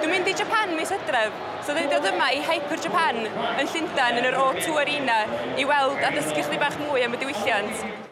Dwi'n mynd i Japan mis Hydref, so dwi'n dod yma i Hyper Japan yn Llundain yn yr O2 Arena i weld a dysgu chdi bach mwy am y diwylliant.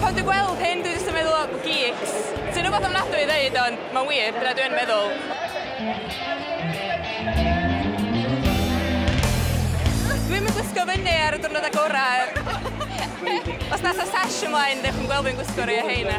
Pan dwi'n gweld hyn, dwi jyst yn meddwl am geeks. Sy'n rhywbeth ofnadwy i ddeud, ond mae'n wir, dyna dwi yn meddwl. Dwi ddim yn gwisgo fyny ar y diwrnodau gorau. Os nasa sash ymlaen, dewch yn gweld fi'n gwisgo rhai o rheina.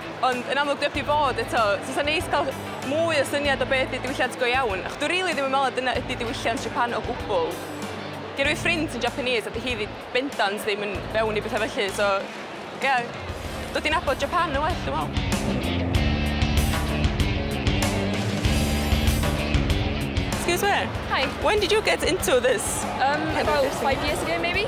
Ond yn amlwg dwi heb 'di bod eto, so fysa'n neis cael mwy o syniad o be ydy diwylliant go iawn, achos dwi rili ddim yn meddwl na dyna ydy diwylliant Japan o gwbl. Gynna fi ffrind sy'n Japanese a 'di hi bendant ddim yn fewn i betha felly, so ie, dod i nabod Japan yn well dwi'n meddwl. Excuse me. Hi. When did you get into this? About five years ago maybe.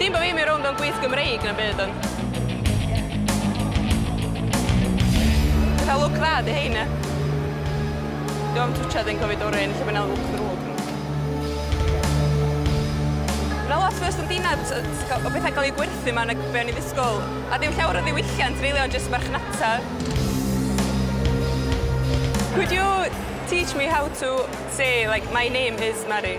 Dim bo fi'n mynd rownd mewn gwyth Gymreig na'm byd ond... Ti'n cael lwc dda 'di hein ia? Dwi am twtshad a wedyn cofio dorri un lle ma' 'na lwc ddrwg. Ma' 'na lot fwy o stondina jys yy sy'n ca'l o petha'n ca'l eu gwerthu 'ma nag be' o'n i'n ddisgwl a dim llawer o ddiwylliant rili ond jyst marchnata. Could you teach me how to say like my name is Mari?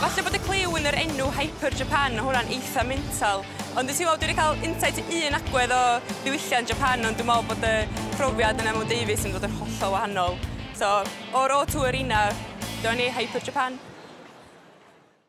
Falle bod y clyw yn yr enw Hyper Japan, ma' hwnna'n eitha mental. Ond ti'n gweld, dwi 'di cael insight i un agwedd o ddiwylliant Japan, ond dwi'n meddwl bod y profiad yna mewn deufis yn mynd i fod yn hollol wahanol. So, o'r O Tour inna, do ni, Hyper Japan.